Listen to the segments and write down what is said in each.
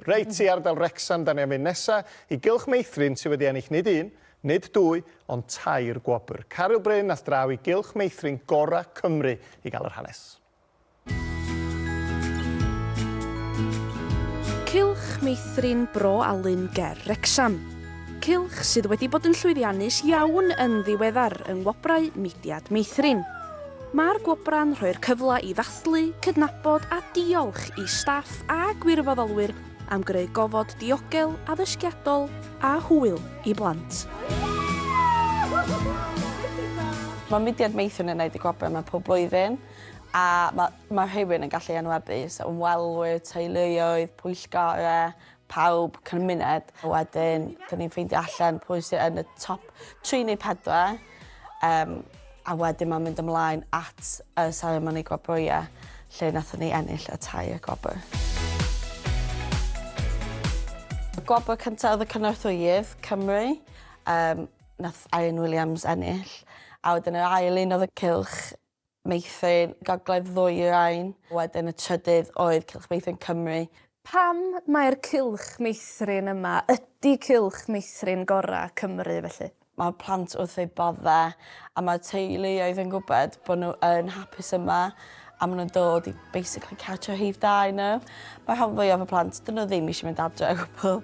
Reit, i ardal Wrecsam 'dan ni am fynd nesa i Gylch Meithrin sy wedi ennill nid un, nid dwy, ond tair gwobr. Caryl Bryn ath draw i Gylch Meithrin gora' Cymru i gael yr hanes. Cylch Meithrin Bro Alun ger Wrecsam. Cylch sydd wedi bod yn llwyddiannus iawn yn ddiweddar yng Ngwobrau Mudiad Meithrin. Mae'r gwobrau'n rhoi'r cyfle i ddathlu, cydnabod a diolch i staff a gwirfoddolwyr am greu gofod diogel, addysgiadol a hwyl i blant. Mae mudiad Meithrin yn gwneud y gwobrau yma pob blwyddyn a mae rhywun yn gallu enwebu, so ymwelwyr, teuluoedd, pwyllgorau, pawb cymuned a wedyn dyn ni'n ffeindio allan pwy sydd yn y top 3 neu 4 um, a wedyn mae'n mynd ymlaen at y seremoni gwobrwyau lle nath ni ennill y tai y gwobr. Y gwobr cyntaf oedd y cynorthwyydd Cymru, um, nath Irene Williams ennill, a wedyn yr ail un oedd y cylch Meithrin gogledd ddwyrain, wedyn y trydydd oedd Cylch Meithrin Cymru. Pam mai'r Cylch Meithrin yma ydi Cylch Meithrin gora Cymru felly? Mae'r plant wrth eu bodde a mae'r teuluoedd yn gwybod bod nhw yn hapus yma a maen nhw'n dod i basically catch a rhif da i nhw. Mae rhan fwyaf y plant, dyn nhw ddim eisiau mynd adre o gwbl.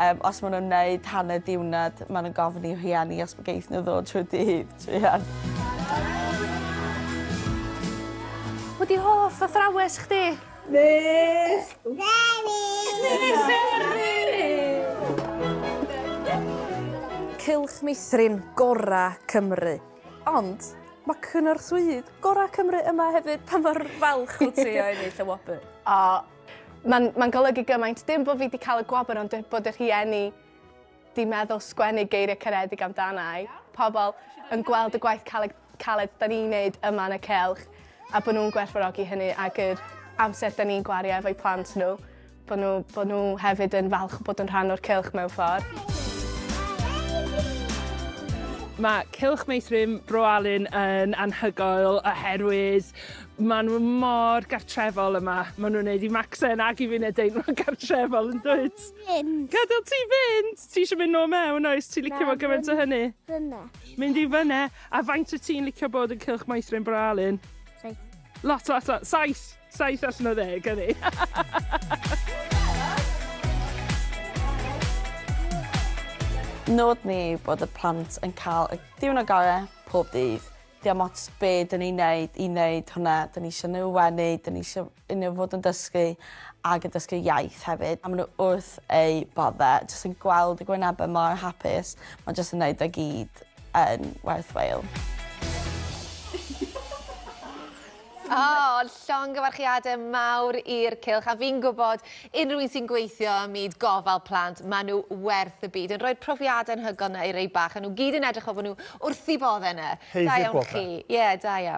Um, os maen nhw'n wneud hanner diwnad, maen nhw'n gofyn i rhieni os mae geith nhw ddod trwy dydd, trwy hyn. Wedi hoff athrawes chdi? Nes! Cylch meithrin gorau Cymru. Ond mae cynorthwyydd gorau Cymru yma hefyd, pa mor falch wyt ti o ennill y wobr? O, mae'n ma golygu gymaint, dim bod fi wedi cael y gwobr ond bod y rhieni di meddwl sgwennu geiriau caredig amdanau, pobl yn gweld y gwaith caled, caled da ni'n neud yma yn y celch a bod nhw'n gwerthfawrogi hynny ac yr amser da ni'n gwario efo'i plant nhw. Bod nhw, bod nhw hefyd yn falch bod yn rhan o'r cylch mewn ffordd. Mae Cylch Meithrin Bro Alun yn anhygoel oherwydd maen nhw mor gartrefol yma. Maen nhw'n gwneud i Maxen ac i fi'n edrych mor gartrefol yn dweud. Gadael ti fynd! Ti eisiau mynd nôl mewn oes? Ti'n licio fo gymaint o hynny? Fyna. Mynd i fyna. A faint o ti'n licio bod yn Cylch Meithrin Bro Alun? Saith. Lot, lot, lot. Saith? Saith allan o ddeg, o'n i. Nod ni yw bod y plant yn cael y diwrnod gore pob dydd. Diom ots be dyn ni'n neud i neud hwnna, dyn ni isio nhw wenu, dyn ni isio i nhw fod yn dysgu ac yn dysgu iaith hefyd, a ma' nhw wrth eu bodde, jyst yn gweld y gwynebe mor hapus, ma' jyst yn neud e gyd yn werthwhile. O, llongyfarchiadau mawr i'r cylch, a fi'n gwybod unrhyw un sy'n gweithio ym myd gofal plant, maen nhw werth y byd, yn rhoi'r profiadau anhygoel yna i rei bach, a nhw gyd yn edrych fel bod nhw wrth eu boddau yna. Da iawn chi. Ie, da iawn.